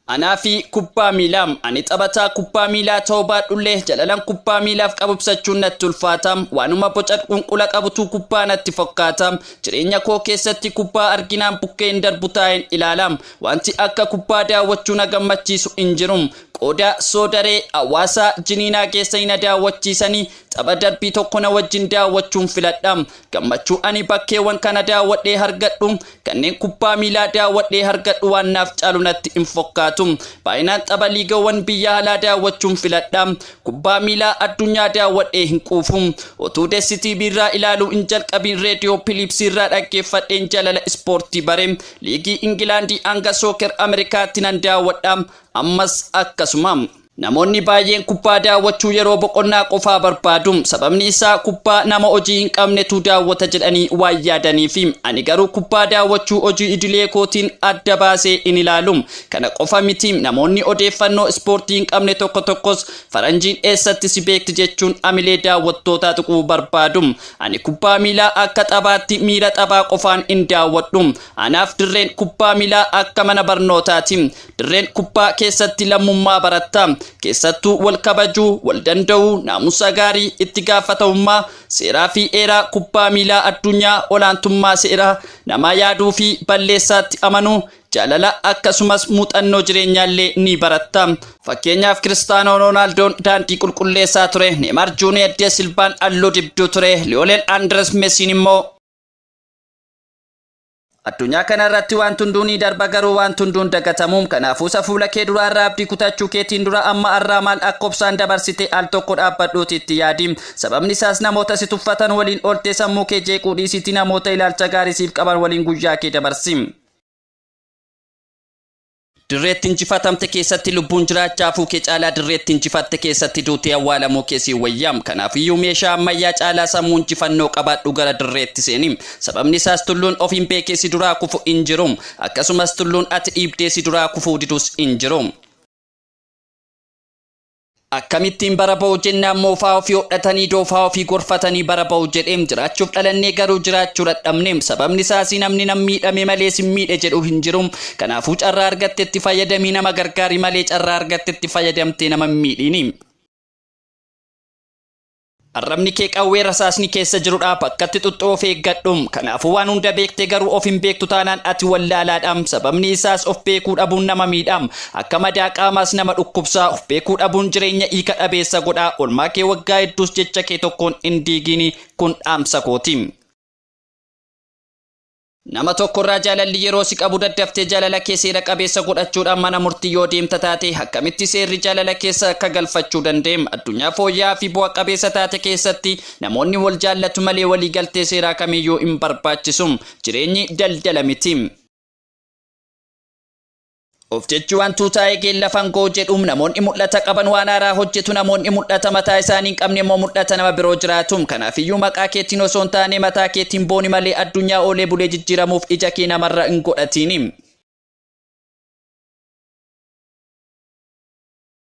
Anaa fi kubbaa miilaa. Ani taphataa kubbaa miilaa ta'uu baadhullee jalalan kubbaa miilaaf qabu ibsachuun natti ulfaata. Waanuma boca qunqula qabutu kubbaa natti fakkaata. Jireenya koo keessatti kubbaa arginaan bukkeen darbu taa'een ilaala. Wanti akka kubbaa daawwachuu na gammachiisu hin jiru. Qooda Soodaree, Hawaasaa, Jiniinaa geessanii na daawwachiisanii tapha darbii tokko na wajjin daawwachuun filadha. Gammachuu ani bakkeewwan kana daawwadhee hargadhu kanneen kubbaa miilaa daawwadhee hargadhu waan naaf caalu natti hin fokkaatu. Baayinaan tapha liigawwan biyya alaa daawwachuun filadha. Kubbaa miilaa addunyaa daawwadhee hin quufu. Otuu Dessi TV irraa ilaaluu hin jalqabiin Reediyoo Piliipsii irraa dhaggeeffadheen jalala ispoortii bare. Liigii Ingilaandii hanga Sooker Amerikaatti nan daawwadha. Ammas akkasuma. Namoonni baay'een kubbaa daawwachuu yeroo boqonnaa qofaa barbaadu. Sababni isaa kubbaa nama hojii hin qabnetu daawwata jedhanii waan yaadaniifi. Ani garuu kubbaa daawwachuu hojii idilee kootiin adda baasee hin ilaalu. Kana qofa miti, namoonni odeeffannoo ispoortii hin qabne tokko tokkos faranjiin eessatti si beekti jechuun hamilee daawwattootaa tuquu barbaadu. Ani kubbaa miilaa akka taphaatti miira taphaa qofaan hin daawwadhu. Anaaf dirreen kubbaa miilaa akka mana barnootaati. Dirreen kubbaa keessatti lammummaa baratta. Keessattuu wal kabajuu, wal danda'uu, naamusa gaarii, itti gaafatamummaa, seeraa fi eeraa kubbaa miilaa addunyaa, olaantummaa seeraa, namaa yaaduu fi balleessaatti amanuu, jaalala akkasumas muuxannoo jireenyaallee ni baratta. Fakkeenyaaf Kiristaanoo Roonaaldoon daandii qulqulleessaa ture, Neemaar Juuniyeer De Silvaan halluu dibduu ture, Liyoonel Andirees Mesiin immoo Addunyaa kana irratti waanti hunduu ni darba garuu waanti hunduu hin dagatamu. Kanaafuu isa fuula kee duraa irraa abdii kutachuu keetiin dura amma arraa maal akka obsaan dabarsite al tokko dhaabbadhuuti itti yaadi. Sababni isaas namoota si tuffatan waliin ooltee sammuu kee jeequu dhiisiiti namoota ilaalcha gaarii siif qaban waliin guyyaa kee dabarsi. Dirreetti injifatamte keessatti lubbuun jiraachaa hafuu kee caalaa dirreetti injifatte keessatti duutee awwaalamuu kee sii wayya. Kanaafiyyuu meeshaa ammayyaa caalaa sammuu injifannoo qabaadhu gara dirreetti seeni. Sababni isaas tulluun ofiin beekee si duraa kufu hin jiru. Akkasumas tulluun ati dhiibdee si duraa kufuu didus hin jiru. Akkamittiin bara ba'u jennaan moofaa ofii hodhatanii doofaa ofii gorfatanii bara ba'u jedheem jiraachuuf dhalannee garuu jiraachuu dhadhabneem sababni isaas namni nan miidhame malee sin miidhe jedhu hin jiru kanaafuu carraa argattetti fayyadamii nama gargaari malee carraa argattetti fayyadamtee nama hin miidhiini. Arrabni kee qawwee rasaasni keessa jirudha bakkatti xuxxu of eeggadhu kanaafuu waan hunda beekte garuu of hin beektu taanaan ati wallaalaadha sababni isaas of beekuu dhabuun nama miidha akka madaa qaamaas nama dhukkubsa of beekuu dhabuun jireenya hiika dhabeessa godha olmaa kee waggaa hedduus jecha kee tokkoon hin diigiini kun dhaamsa kooti. Nama tokko irraa jaalalli yeroo si qabu daddaftee jaalala kee seera qabeessa godhachuudhaan mana murtii yoo deemta taate akkamitti seerri jaalala keessa akka galfachuu dandeem addunyaa fooyya'aa fi bu'a qabeessa taate keessatti namoonni wal jaallatu malee walii galtee seeraa kamiyyuu hin barbaachisum jireenyi daldala miti. Of jechuu waan tuutaa'ee keen lafaan koo jedhu namoonni mul'ata qaban waan haaraa hojjetu namoonni mul'ata mataa isaanii hin qabne immoo mul'ata nama biroo jiraatu. Kanaafiyyuu maqaa keetiin osoo hin taane mataa keetiin booni malee addunyaa oolee bulee jijjiiramuuf ija kee namarra hin godhatiin.